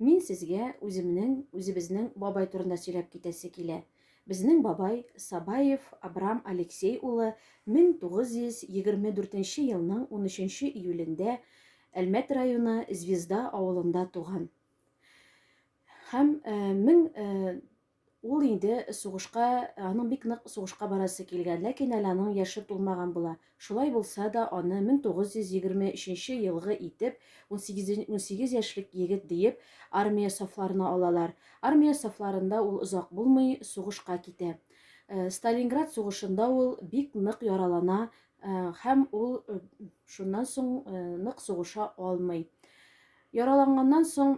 Мин сезгә үземнең, үзебезнең бабай турында сөйләп китәсе килә. Безнең бабай Сабаев Абрам Алексей улы 1924 нче елның 13 нче июлендә Әлмәт районы Звезда авылында туган һәм 1900 Ул инде сугышка, аның бик нык сугышка барасы килгән, ләкин әле аның яше тулмаган була. Шулай булса да, аны 1923 елгы итеп, унсигез яшьлек егет диеп, армия сафларына алалар. Армия сафларында ул озак булмый, сугышка китә. Сталинград сугышында ул бик нык яралана һәм ул шуннан соң нык сугыша алмый. Яраланганнан соң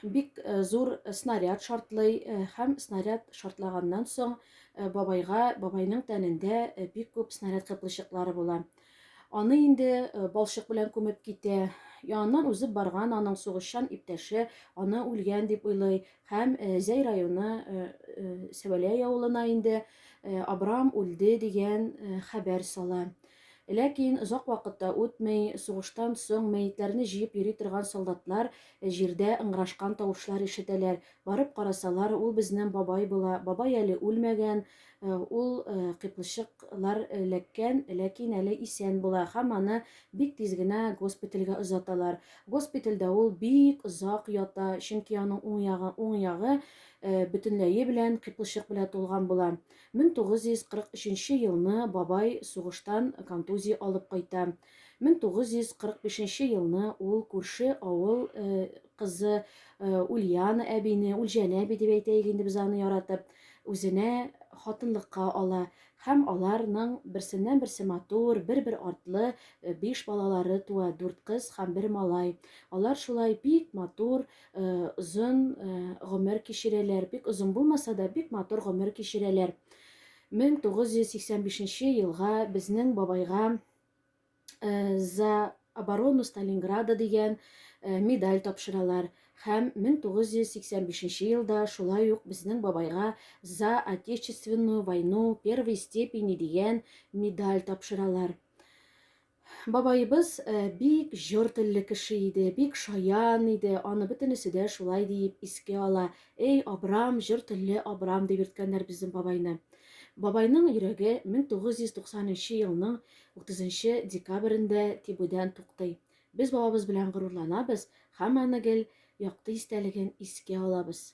бик э, зур снаряд шартлый э, һәм снаряд шартлаганнан соң э, бабайга бабайның тәнендә бик күп снаряд кыплычыклары була аны инде балчык белән күмеп китә яныннан узып барган аның сугышчан иптәше аны үлгән дип уйлый һәм зәй районы сәвәләй авылына инде абрам үлде дигән хәбәр сала Ләкин озак вакыт та үтми, сугыштан соң мәетләрне җыеп йөри торган солдатлар җирдә ыңгырашкан тавышлар ишетәләр. Барып карасалар, ул безнең бабай була. Бабай әле үлмәгән, ул кыйпылчыклар эләккән, ләкин әле исән була һәм аны бик тиз генә госпитальгә озаталар. Госпитальдә ул бик озак ята, чөнки аның уң ягы бөтенләе белән кыйпылчык белән тулган була. 1943 елны бабай сугыштан контузия алып кайта. 1945 елны ул күрше авыл кызы Ульяна әбине, Ульҗәнә әби дип әйтәйек инде без аны яратып, үзенә хатынлыкка ала һәм аларның берсеннән-берсе матур, бер-бер артлы биш балалары туа, дүрт кыз һәм бер малай. Алар шулай бик матур, Озын гомер кичерәләр. Бик озын булмаса да, бик матур гомер кичерәләр. 1985 елга безнең бабайга за оборону Сталинграда дигән медаль тапшыралар һәм 1985 елда шулай ук безнең бабайга за отечественную войну первой степени дигән медаль тапшыралар. Бабаебыз бик җор телле кеше иде, бик шаян иде, аны бөтенесе дә шулай диеп искә ала. Эй, Абрам, җор телле Абрам, дип йөрткәннәр безнең бабайны. Бабайның йөрәге 1990 нчы елның 30 нчы декабрендә тибүдән туктый. Без бабабыз белән горурланабыз һәм аны гел якты истәлеген искә алабыз.